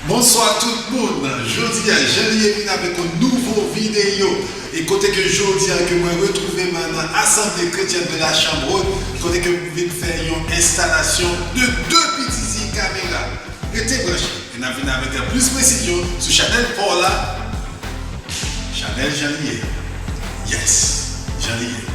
Bonswa tout moun, jodia jan li ye vin avèk yon nouvo videyo e kote ke jodia ke mwen retrouve mwen nan asanble kretyèn de la chanm rot kote ke m vin fè yon enstalasyon de 2 pititi kamera rete branche e nap vin avèk plis presizyon sou chanèl paw la chanèl jan li ye yes jan li ye.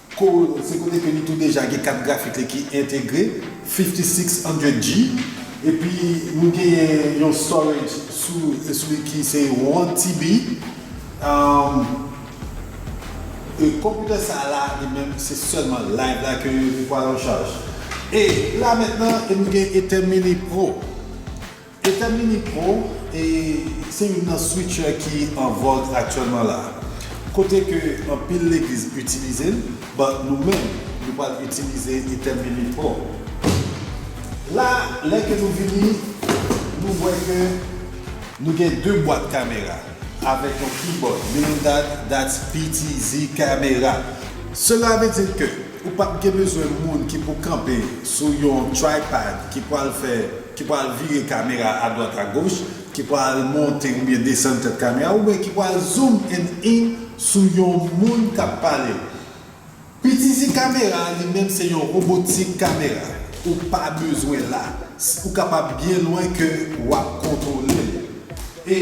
Corojo se kote ke li tou deja gen kat grafik li ki entegre, 5600G, epi nou genyen yon storage sou sou li ki se 1TB. Konpitè sa la li menm se sèlman live la ke li pwal an chaj. E la mentnan e nou gen Ether Mini Pro. Etèn Mini Pro e se youn nan switcher ki an vòg aktyèlman la a. Kote ke anpil legliz itilize l, but nou menm nou pral itilize Etèn Mini Pro. La a lè ke nou vini nou wè ke nou gen 2 bwat kamera avèk yon keyboard Mirindad that's PTZ camera. Sela ve di ke ou pap gen bezwen moun ki pou kanpe sou yon tripad ki pwal fè. ki pral vire kamera a dwat a goch, ki pral monte oubyen desann tèt kamera a, oubyen ki pral zoom and in sou yon moun k ap pale. Itilize kamera a li menm se yon robotik kamera, ou pa bezwen la, ou kapab byen lwen ke w ap kontwole l. E.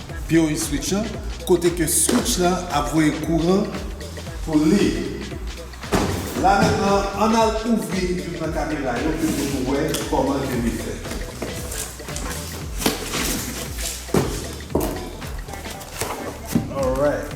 Pure switch an, kote ke switch la ap voye kouran pou li. La mentnan ann al ouvri youn nan kamera yo pou nou wè kòman ke li fèt. Alright.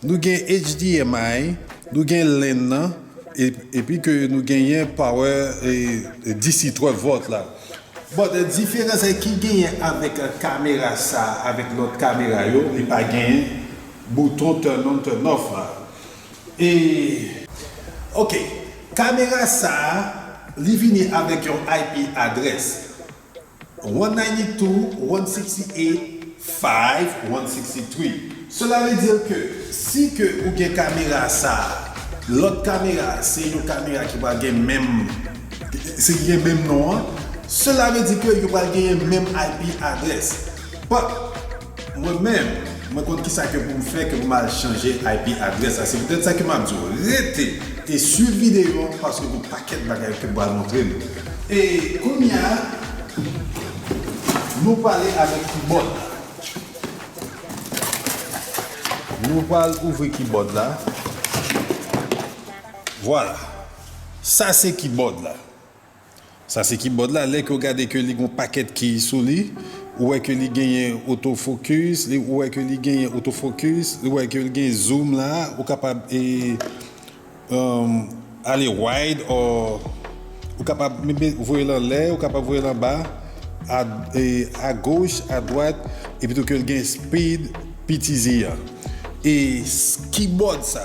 Nou gen HDMI, nou gen len nan, epi ke nou genyen power DC 12 volt la. But diferans ki genyen avèk kamera sa avèk lòt kamera yo li pa genyen bouton turn on turn off la. E. Ok kamera sa li vini avèk yon IP adrès. 192.168 Cela veut dire que si ke ou gen kamera sa a, lòt kamera a se yon kamera ki pral gen menm se ki gen menm non an, cela veut dire que yo pral genyen menm IP adresse. But. Mwen menm, mwen konn kisa ke pou m fè ke pou m al chanje IP adrès la. Se poutèt sa ke m ap di w, rete e swiv videyo an paske gen pakèt bagay ke m pral montre nou. E kounya, nou pale avèk kibòd la. Nou pral ouvri kibòd la. Vwala. Sa se kibòd la. Sa se kibòd la lè ke w gade ke li gon pakèt kiy sou li, ou wè ke li genyen oto fokis, ou wè ke li genyen oto fokis, ou wè ke li gen zoom la, ou kapab e ale wide or ou kapab voye l anlè, ou kapab voye l anba, a goch, a dwat, epi tou ke li gen speed PTZ an. E kibòd sa.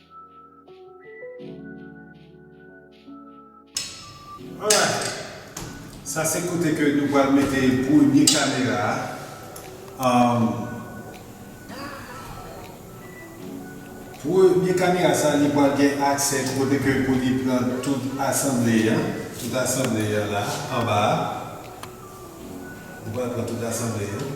Sa se kote ke nou pral mete premye kamera a. Premye kamera sa li pral gen aksè kote ke pou li pran tout asanble an. Tout asanble an la anba a. Li pral pran tout asanble an.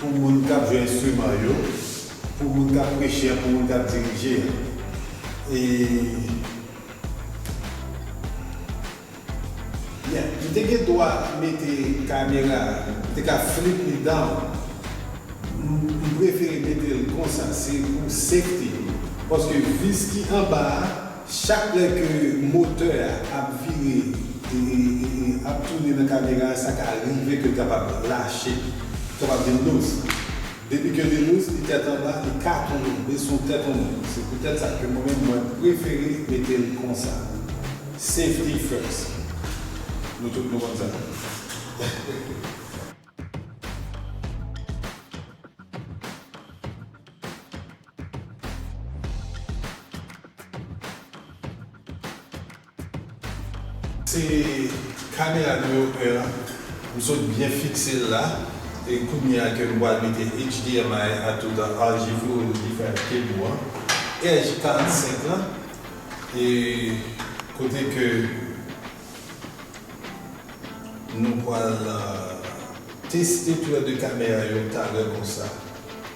Pou moun k ap jwe enstriman yo, pou moun k ap preche an, pou moun k ap dirije an. E. Byen, m te gen dwa mete kamera a, m te ka flip li down. M prefere mete l konsa, se pou safety m. Paske vis ki anba a. Chak lè ke motè a ap vire ap tounen nan kamera a sa ka rive ke l kapab lache, li kapab vin lous. Depi ke li lous, li tèt anba, li ka tounen, li sou tèt yon moun. Se poutèt sa ke mwen menm mwen prefere mete l konsa. Safety first. Nou tout nou konn sa. Se kamera nimewo 1 an m sot byen fikse l la e kounye a ke m pral mete HDMI a tout an argivou e different cable an RJ 45 lan e kote ke nou pral teste tou lè 2 kamera yo talè konsa.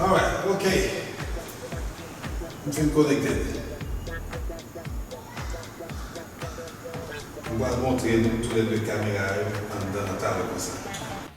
Alright ok m fin konekte m pral montre nou tou le 2 kamera yo anndan nan talè konsa.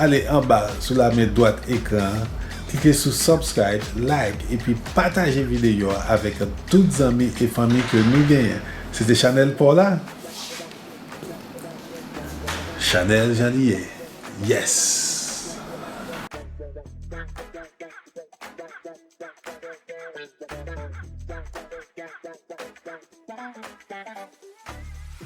Ale anba sou lamen dwat ekran an, klike sou Subscribe, Like epi pataje videyo a avèk tout zanmi e fanmi ke nou genyen. Se te chanèl paw la? Chanèl jan li ye. Yes!